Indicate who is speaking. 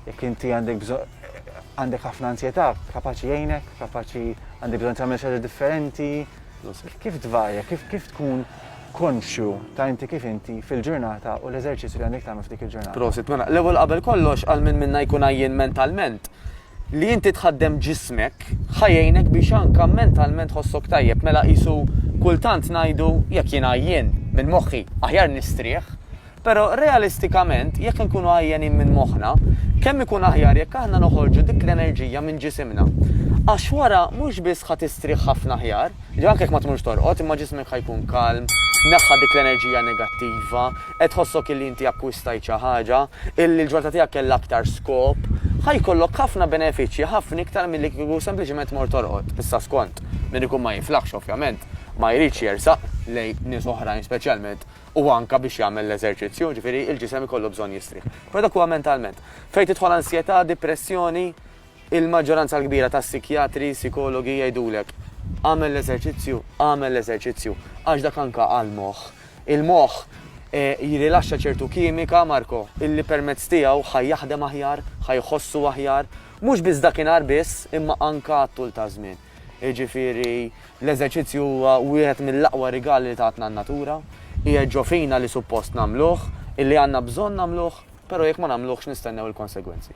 Speaker 1: Jekk inti għandek bżonn għandek ħafna ansjetà, kapaċi jgħinek, kapaċi għandek bżonn tagħmel xi differenti. Kif tvarja, kif kif tkun konxju ta' inti kif inti fil-ġurnata u l-eżerċizzju li għandek tagħmel f'dik il-ġurnata. Prosit, mela, l-ewwel qabel
Speaker 2: kollox għal minn minna jkun għajjien mentalment li inti tħaddem ġismek ħajjejnek biex anka mentalment ħossok tajjeb mela qisu kultant ngħidu jekk jien għajjien minn moħħi aħjar nistrieħ Però realistikament, jekk inkunu għajjenin minn moħħna, kemm ikun aħjar jekk aħna noħorġu dik l-enerġija minn ġisimna. Għax wara mhux biss ħa tistrieħ ħafna aħjar, ġifieri anke jekk ma tmurx torqod, imma ġismek ħa jkun kalm, neħħa dik l-enerġija negattiva, qed tħossok illi inti akkwistajt xi ħaġa, illi l-ġurnata tiegħek kellha aktar skop. Ħa jkollok ħafna benefiċċji, ħafna iktar milli kieku sempliċiment tmur torqod. Issa skont, min ikun ma jiflaħx ovvjament, ma jridx jersaq lejn nies oħrajn speċjalment u anke biex jagħmel l-eżerċizzju, jiġifieri l-ġisem ikollu bżonn jistrieħ. Però dak huwa mentalment. Fejn tidħol ansjetà, dipressjoni, il-maġġoranza l-kbira tas-sikjatri, sikologi jgħidulek, agħmel l-eżerċizzju, agħmel l-eżerċizzju, għax dak anke għall-moħħ. Il-moħħ jirrilaxxa ċertu kimika, Marco, illi permezz tiegħu ħa jaħdem aħjar, ħa jħossu aħjar, mhux biss dakinhar biss, imma anke għat-tul taż-żmien. Jiġifieri, l-eżerċizzju huwa wieħed mill-aqwa rigali li tatna n-natura. Qiegħed ġo fina li suppost nagħmluh, illi għandna bżonn nagħmluh, però jekk ma nagħmluhx nistennew il-konsegwenzi.